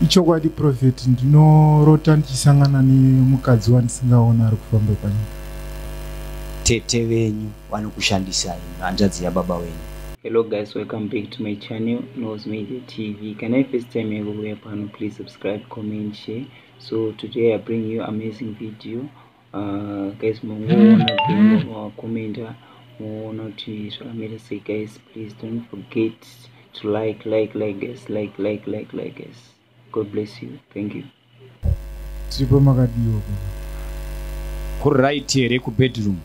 ichokwadi profeti ndinorota ndichisangana nemukadzi wandisingaona ari kufamba panyika tete venyu vanokushandisai hanzvadzi yababa wenyu hello guys welcome back to my channel knows media tv can i first time yako kuuya pano please subscribe comment share so today i bring you amazing video Ah, guys mongoona bhingo mawakomenta moona kuti zvakamira sei guys please don't forget to like like like guys like like like like guys god bless you thank you tiripo makadiwa kuri right here kubedroom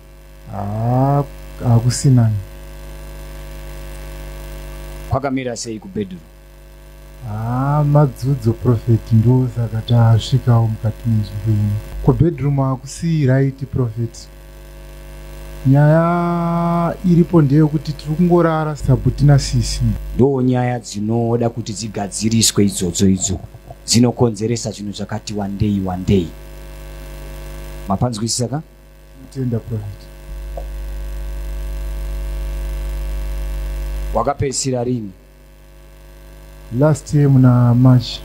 hakusinani kwakamira sei kubedroom haa madzudzo profeti ndo saka tasvikawo mukati menzvimbo ino kubedroom hakusi right profeti nyaya iripo ndeyokuti tiri kungorara sabhuti nasisi ndoo nyaya dzinoda kuti dzigadziriswe idzodzo idzo dzinokonzeresa zvinhu zvakati wandei wandei mapanzwisisa ka tenda profeti wakapedzisira rini last year muna march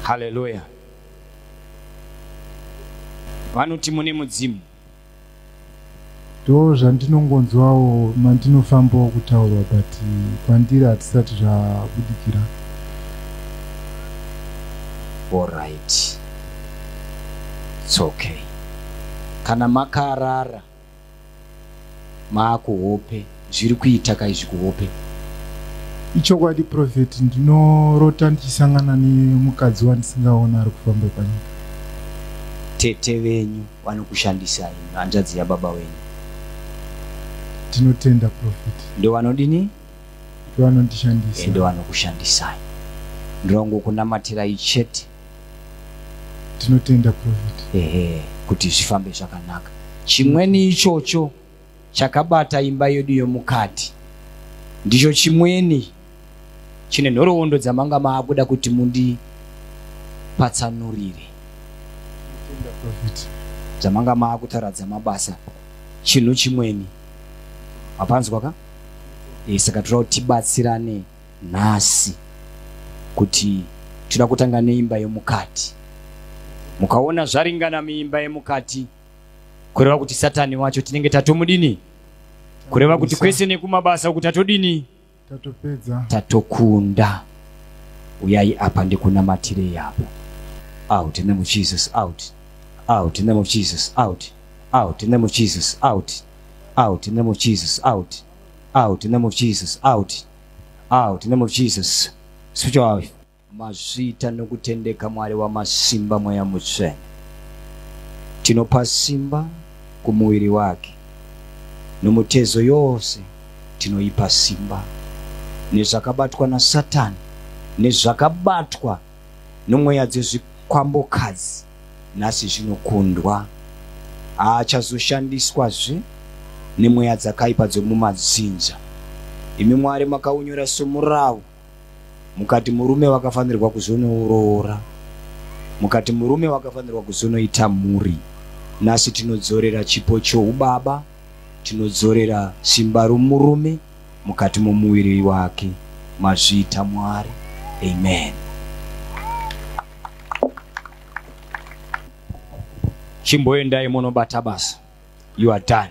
haleluya vanoti mune mudzimu ndo zvandinongonzwawo mandinofambawo kutaurwa but kwandiri hatisati zvabudikira orit its okay kana makarara maako hope zviri kuita ka izvi kuhope ichokwadi profeti ndinorota ndichisangana nemukadzi wandisingaona ari kufamba panyika tete venyu vanokushandisai hanzvadzi yababa wenyu tinotenda profeti ndo vanodini ndo vanondishandisa ndo vanokushandisai ndongokunamatirai chete tinotenda profit ehe kuti zvifambe zvakanaka chimweni ichocho chakabata imba yedu yomukati ndicho chimweni chine nhoroondo dzamanga maakuda kuti mundipatsanurire dzamanga maakutaura dzamabasa chinhu chimweni hapanzwa ka e, saka tinoda kuti tibatsirane nhasi kuti tinoda kutanga neimba yemukati mukaona zvaringana muimba yemukati kureva kuti satani wacho tinenge tatomudini kureva kuti kwese nekumabasa uku tatodini tatopedza tatokunda uyai apa ndikunamatirei apo out in the name of jesus out out in the name of jesus out out in the name of jesus out out in the name of jesus out out in the name of jesus out out in the name of jesus switch off mazvita nokutendeka mwari wamasimba mweya mutsvene tinopa simba kumuviri wake nomutezo yose tinoipa simba nezvakabatwa nasatani nezvakabatwa nomweya dzezvikwambokazi nhasi zvinokundwa haachazoshandiswazve nemweya dzakaipa dzomumadzinza imi mwari makaunyora somurawu mukati murume wakafanirwa kuzonouroora mukati murume wakafanirwa kuzonoita mhuri nhasi tinodzorera chipo choubaba tinodzorera simba romurume mukati momuviri wake mazviita mwari amen chimboendai munobata basa you are done